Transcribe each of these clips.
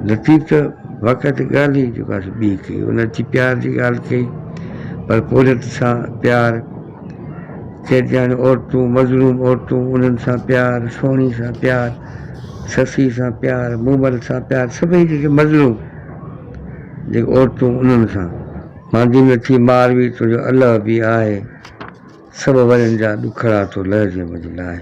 لطيف ته واقعي تي ڳالهه ئي جيڪا سو ٻي ڪئي، ان اچي پيار جي ڳالهه ڪئي، پر پورهيت سان پيار، قيدياڻيون عورتون، مظلوم عورتون، انهن سان پيار، سهڻي سان پيار، سسئي سان پيار، مومل سان پيار، سڀئي جيڪي مظلوم جيڪي عورتون انهن سان ماندي نه ٿي مار وي تنهنجو الله به آهي، سڀ ورين جا ڏکڙا ٿو لهجي منهنجي لاهي.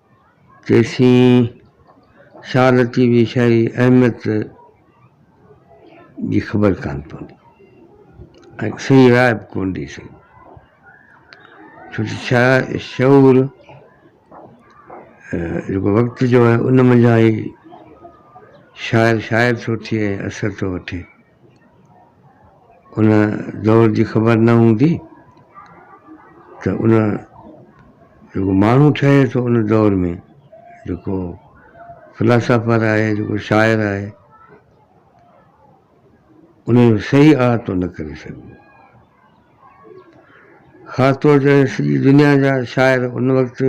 تيسين شاھ لطيف جي شاعري جي اهميت جي خبر ڪانه پوندي ۽ صحيح راء به ڪونه ڏئي سگهندو ڇو جو شاع شعور جيڪو وقت جو آهي ان منجهان ئي شاعر شاعر ٿو ٿئي ۽ اثر ٿو وٺي ان دور جي خبر نه هوندي ته ان جيڪو ماڻهو ٺهي ٿو ان دور ۾ جيڪو فلاسافر آهي جيڪو شاعر آهي ان جو صحيح احاطو نه ڪري سگهبو خاص طور تي سڄي دنيا جا شاعر ان وقت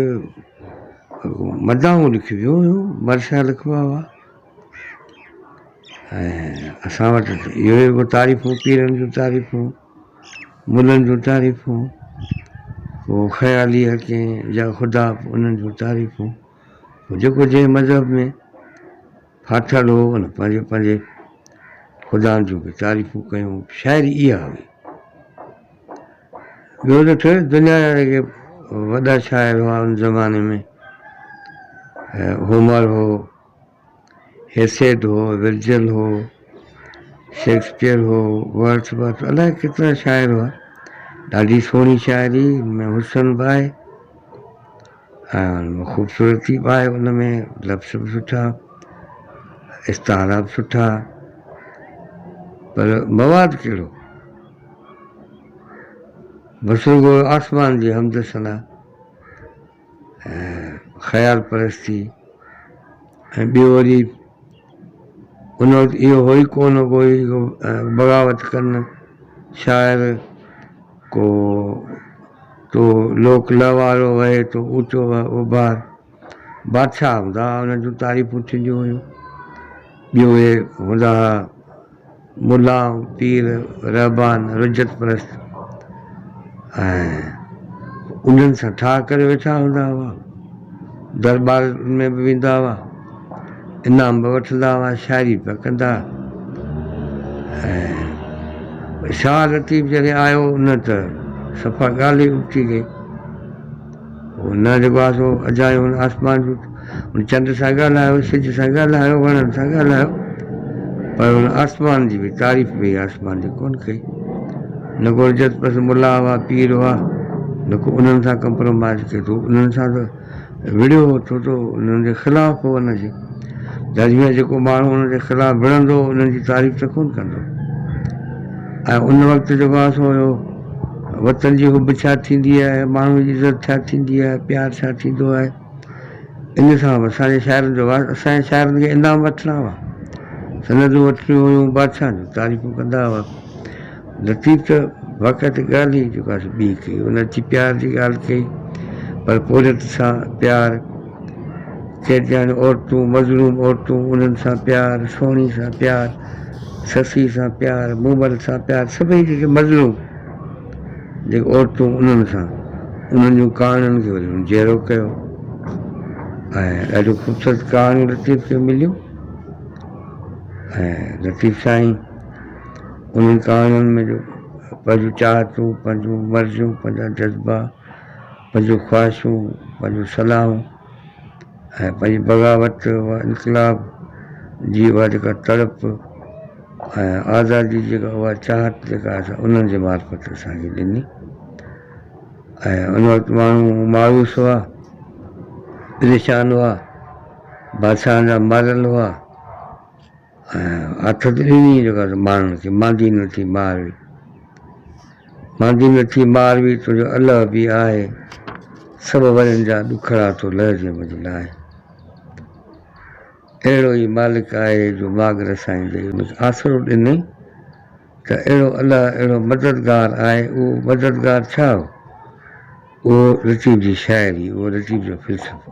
مداحون لکبيون هيون مرثيا لکبا هئا ۽ اسان وٽ اهو ئي هو تعريفون پيرن جون تعريفون ملن جون تعريفون هو خيالي حڪيم يا خدا انهن جون تعريفون جيڪو جنهن مذهب ۾ ڦاٿل هو ان پنهنجي پنهنجي خدائن جون به تعريفون ڪيون شاعري اها هئي ٻيو ته ٿيو دنيا جا جيڪي وڏا شاعر هئا ان زماني ۾ هومر هو هيسيٽ هو ورجل هو شيڪسپيئر هو ورث ورث الائي ڪيترا شاعر هئا ڏاڍي سهڻي شاعري ان ۾ حسن به آهي ۽ خوبصورتي به آهي ان ۾ لفظ به سٺا استعارا به سٺا پر مواد ڪهڙو بس رڳو آسمان جي حمد ثنا ۽ خيال پرستي ۽ ٻيو وري هن وقت اهو هو ئي ڪونه ڪو ڪوئي بغاوت ڪن شاعر ڪو تو لوڪ لهوارو وهي تو اوچو اڀار بادشاهه هوندا هئا انهن جون تعريفون ٿينديون هيون ٻيو اهي هوندا هئا ملا، پير، رهبان، رجعت پرست ۽ انهن سان ٺاهه ڪري ويٺا هوندا هئا. درٻارن ۾ به ويندا هئا، انعام به وٺندا هئا، شاعري به ڪندا ۽ شاهه لطيف جڏهن آيو نه ته صفا ڳالهه ئي ابتي گئي. هو نه رڳو آسو اجايو هن آسمان جو هن چنڊ سان ڳالهايو سج سان ڳالهايو وڻن سان ڳالهايو پر هن آسمان جي به تعريف به آسمان جي ڪونه ڪئي نه ڪو عزت پس ملا هئا پير هئا نه ڪو انهن سان ڪمپرومائز ڪيو اٿو انهن سان ته وڙهيو هو ٿو ته انهن جي خلاف هو ان جي در ۾ جيڪو ماڻهو انهن جي خلاف وڙهندو انهن جي تعريف ته ڪونه ڪندو ۽ ان وقت جيڪو آسو هيو وطن جي حب ڇا ٿيندي آهي، ماڻهوء جي عزت ڇا ٿيندي آهي، پيار ڇا ٿيندو آهي، ان سان به اسان جي شاعرن جو واهه اسان جي شاعرن کي انعام وٺڻا هئا، سندون وٺڻيون هيون، بادشاهن جون تعريفون ڪندا هئا. لطيف ته واقعا ته ڳالهه ئي جيڪا سي ٻي ڪئي، ان اچي پيار جي ڳالهه ڪئي، پر پورهيت سان پيار، چيٽياڻي عورتون، مظلوم عورتون، انهن سان پيار، سهڻي سان پيار، سسئي سان پيار، مومل سان پيار، سڀئي جيڪي مظلوم جيڪي عورتون انهن سان انهن جون ڪهاڻين کي وري جيئرو ڪيو ۽ ڏاڍيون خوبصورت ڪهاڻيون لطيف کي مليون ۽ لطيف سائين انهن ڪهاڻين ۾ جو پنهنجون چاهتون، پنهنجون مرضيون، پنهنجا جذبا، پنهنجون خواهشون، پنهنجون صلاحون ۽ پنهنجي بغاوت و انقلاب جي اها جيڪا تڙپ ۽ آزادي جي اها چاهت جيڪا اسان انهن جي معرفت اسان کي ڏني ۽ ان وقت ماڻهو مايوس هئا، پريشان هئا، بادشاهن جا ماريل هئا. هٿ ڏني جيڪا ته ماڻهن کي ماندي نه ٿي مار وي ماندي نه ٿي مار وي تنهنجو الله به آهي سڀ ورن جا ڏکڙا ٿو لهجي منهنجي لاء اهڙو ئي مالڪ آهي جو ماڳ رسائيندي آسرو ڏني ته اهڙو الله اهڙو مددگار آهي اهو مددگار ڇا هو؟ اهو لطيف جي شاعري، اهو لطيف جو فلسفو،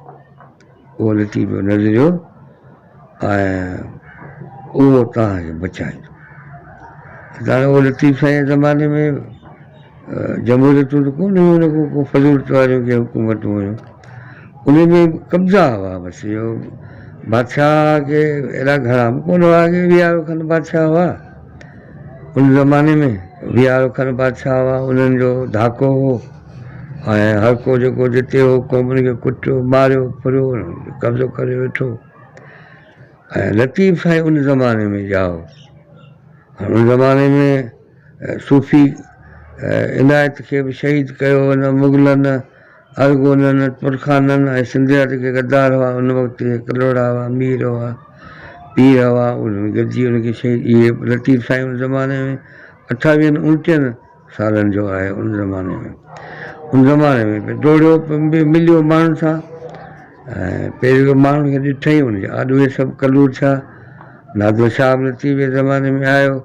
اهو لطيف جو نظريو ۽ اهو توهان کي بچائيندو. ڄڻ اهو لطيف سائين زماني ۾ جمهوريتون ته ڪو نه هيون نه ڪو ڪو فضول طوريون ڪي حڪومتون هيون انهي ۾ قبضا هئا بس اهو بادشاهه کي ايڏا گهڻا به ڪونه هئا اڳي ويهه ارب کن بادشاهه هئا ان زماني ۾ ويهه ارب کن بادشاهه هئا انهن جو ڌاڪو هو ۽ هر ڪو جيڪو جتي هو قومن کي ڪٽيو ماريو ڦريو قبضو ڪري ويٺو ۽ لطيف سائين ان زماني ۾ ڄائو هن زماني ۾ صوفي عنايت کي به شهيد ڪيو هن مغلن ارغونن ترخانن ۽ سنڌيا جيڪي غدار هئا ان وقت اهي ڪلهوڙا هئا مير هئا پير هئا انهن گڏجي ان کي شهيد اهي لطيف سائين ان زماني ۾ اٺاويهن انٽيهن سالن جو آهي ان زماني ۾ ان زماني ۾ به ڊوڙيو به مليو ماڻهن سان ۽ پيريو ماڻهن کي ڏٺئي ان جي آڏو اهي سڀ ڪلور ٿيا نادر شاهه به لطيف جي زماني ۾ آيو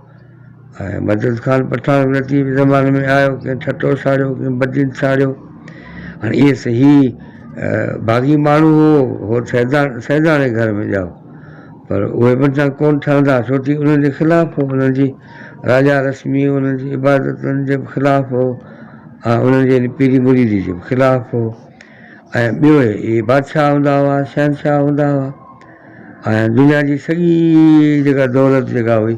۽ مدد خان پٺاڻ به لطيف جي زماني ۾ آيو، ڪنهن ٺٽو ساڙيو، ڪنهن بدين ساڙيو. هاڻي اهي سهي باغي ماڻهو هو، هو سيداڻي گهر ۾ ڄائو، پر اهي به اتان ڪونه ٺهندا، ڇو ٿي انهن جي خلاف هو، انهن جي راجا رسمي، انهن جي عبادتن جي به خلاف هو، ۽ انهن جي ان پيري مريدي جي به خلاف هو. ۽ ٻيو اهي بادشاهه هوندا هئا، شهنشاهه هوندا هئا، ۽ دنيا جي سڄي جيڪا دولت جيڪا هئي،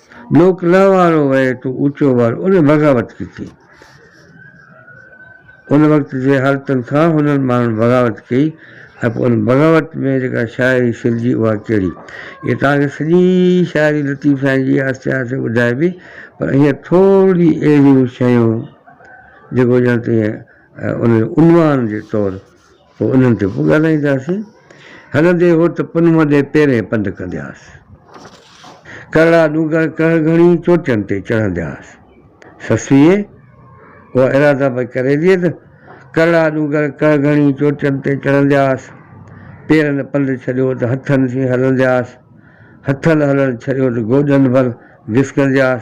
لوڪ لئه وارو وهي تون اوچو ور ان بغاوت ڪٿي؟ ان وقت جي حالتن کان هنن ماڻهن بغاوت ڪئي ۽ پوء ان بغاوت ۾ جيڪا شاعري سرجي اها ڪهڙي؟ اهي توهان کي سڄي شاعري لطيف سائين جي آهستي آهستي ٻڌائبي پر هينئر ٿورڙي اهڙيون شيون جيڪو ڄڻ ته ان جو عنوان جي طور پوء انهن تي به ڳالهائينداسين. هلندي هو ته پنهونء ڏي پيرين پنڌ ڪندياس. ڪرڙا ڏونگر ڪهڙ گهڻي چوٽين تي چڙهندياس. سسئي! اها اراده به ڪري ڏي ته ڪرڙا ڏونگر ڪهڙ گهڻي چوٽين تي چڙهندياس. پيرن پنڌ ڇڏيو ته هٿن سين هلندياس. هٿن هلڻ ڇڏيو ته گوڏن ڀر گسڪندياس.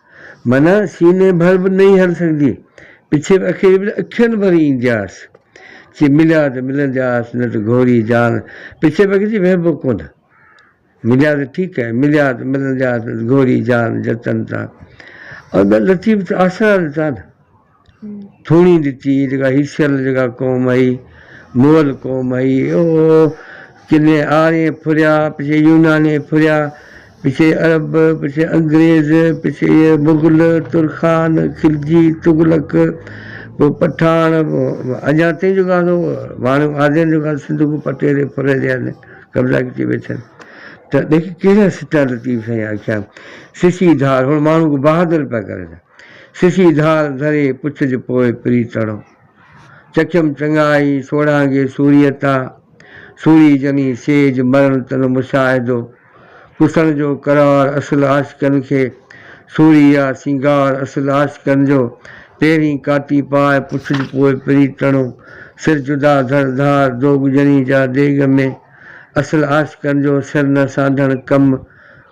معنيٰ سيني ڀر به نئي هڻ سگهندي، پڇيب اکيڙي به نه اکين ڀر ايندياس. چي مليا ته ملندياس، نه ته گهوري جان پڇيب اکين جي وهبو ڪونه. مليا ته ٺيڪ ڪئي، مليا ته ملندياس، نه ته گهوري جان جتن تان. ادا لطيف ته آسرا ڏتا نه. ٿوڻي ڏتي هئي جيڪا هيسيل جيڪا قوم هئي مول قوم هئي او ڪني آرين ڦريا پڇي يوناني ڦريا پڇي عرب پڇي انگريز پڇي مغل ترخان خلجي تغلق پوء پٺاڻ اڃا تائين جيڪا سو ماڻهو آدين جيڪا سنڌ کي پٽي تي ڦري رهيا آهن قبضا ڪري ويٺا آهن ته ڏيکي ڪهڙا سٽا لطيف سائين آکيا سسي ڌار هن ماڻهو کي بهادر پيا ڪرن سسي ڌار ڌري پڇج پوء پريتڻو. چکيم چڱائي سوڙهانگي سوريء تا. سوري جني سيج مرڻ تن مشاهدو. پسڻ جو قرار اصل عاشقن کي. سوري آ سينگار اصل عاشقن جو. پهرين ڪاتي پاء پڇج پوء پريتڻو. سر جدا ڌر ڌار دوڳ جني جا ديڳ ۾. اصل عاشقن جو سر نه سانڍڻ ڪم.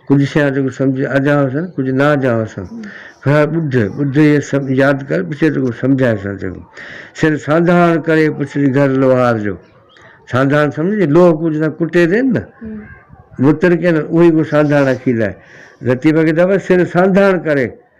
ڪجهه شيان تون سمجهه اجهان سان، ڪجهه نا اجهان سان. هڻ ٻڌ، ٻڌ هيء سڀ ياد ڪر، پڇي تون سمجهائي سان چڱو. سر سانڌاڻ ڪري پڇري گهر لوهار جو. سانڌاڻ سمجهي، لوهه ڪو جنسان ڪٽي ڏين نه، متر ڪين، اهو ئي ڪو سانڌاڻ اکيل آهي. لطيفه کي چئبو آهي، سر سانڌاڻ ڪري.